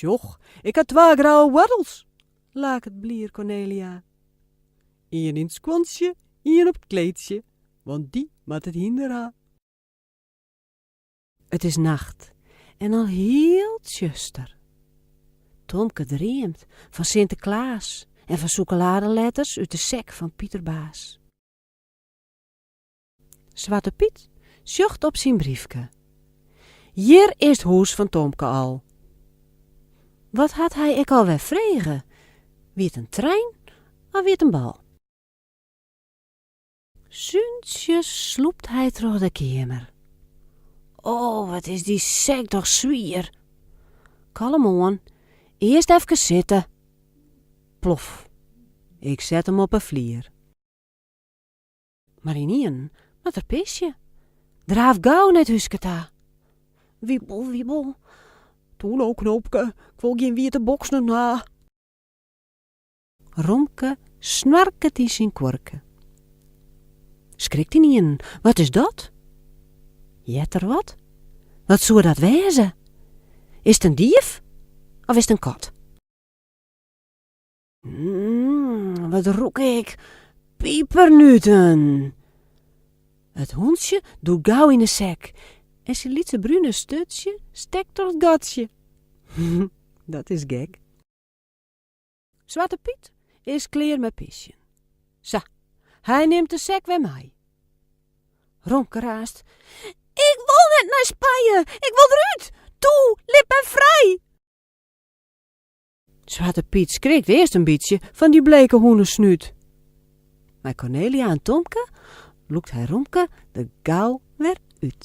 Sjoch, ik ha twa grouwe woartels, laket blier Kornelia. Ien yn it skuontsje, ien op it kleedsje, want dy moat it hynder ha. It is nacht en al hiel tsjuster. Tomke dreamt fan Sinteklaas en fan sûkeladeletters út de sek fan Piterbaas. Swarte Pyt sjocht op syn briefke. Hjir is 't hûs fan Tomke al. Wat hat hy ek alwer frege? Wie 't in trein of wie 't in bal? Súntsjes slûpt hy troch de keamer. O, wat is dy sek toch swier! Kalm oan, earst efkes sitte. Plof! Ik set him op 'e flier. Mar ynienen moat er pisje. Draaft gau nei it húske ta. Wiebel, wiebel. Toe no, knoopke, ik wol gjin wiete boksen ha. Romke snoarket yn syn kuorke. Skrikt ynienen, wat is dat? Heart er wat? Wat soe dat wêze? Is it in dief of is it in kat? Mm, wat rûk ik? Pipernuten! It hûntsje dûkt gau yn 'e sek en syn lytse brune sturtsje stekt troch it gatsje. Dat is gek. Swarte Pyt is klear mei pisjen. Sa, hy nimt de sek wer mei. Romke raast. Ik wol net nei Spanje! Ik wol derút! Toe, lit my frij! Swarte Pyt skrikt earst in bytsje fan dy bleke hûnesnút. Mei Kornelia en Tomke lûkt hy Romke der gau wer út.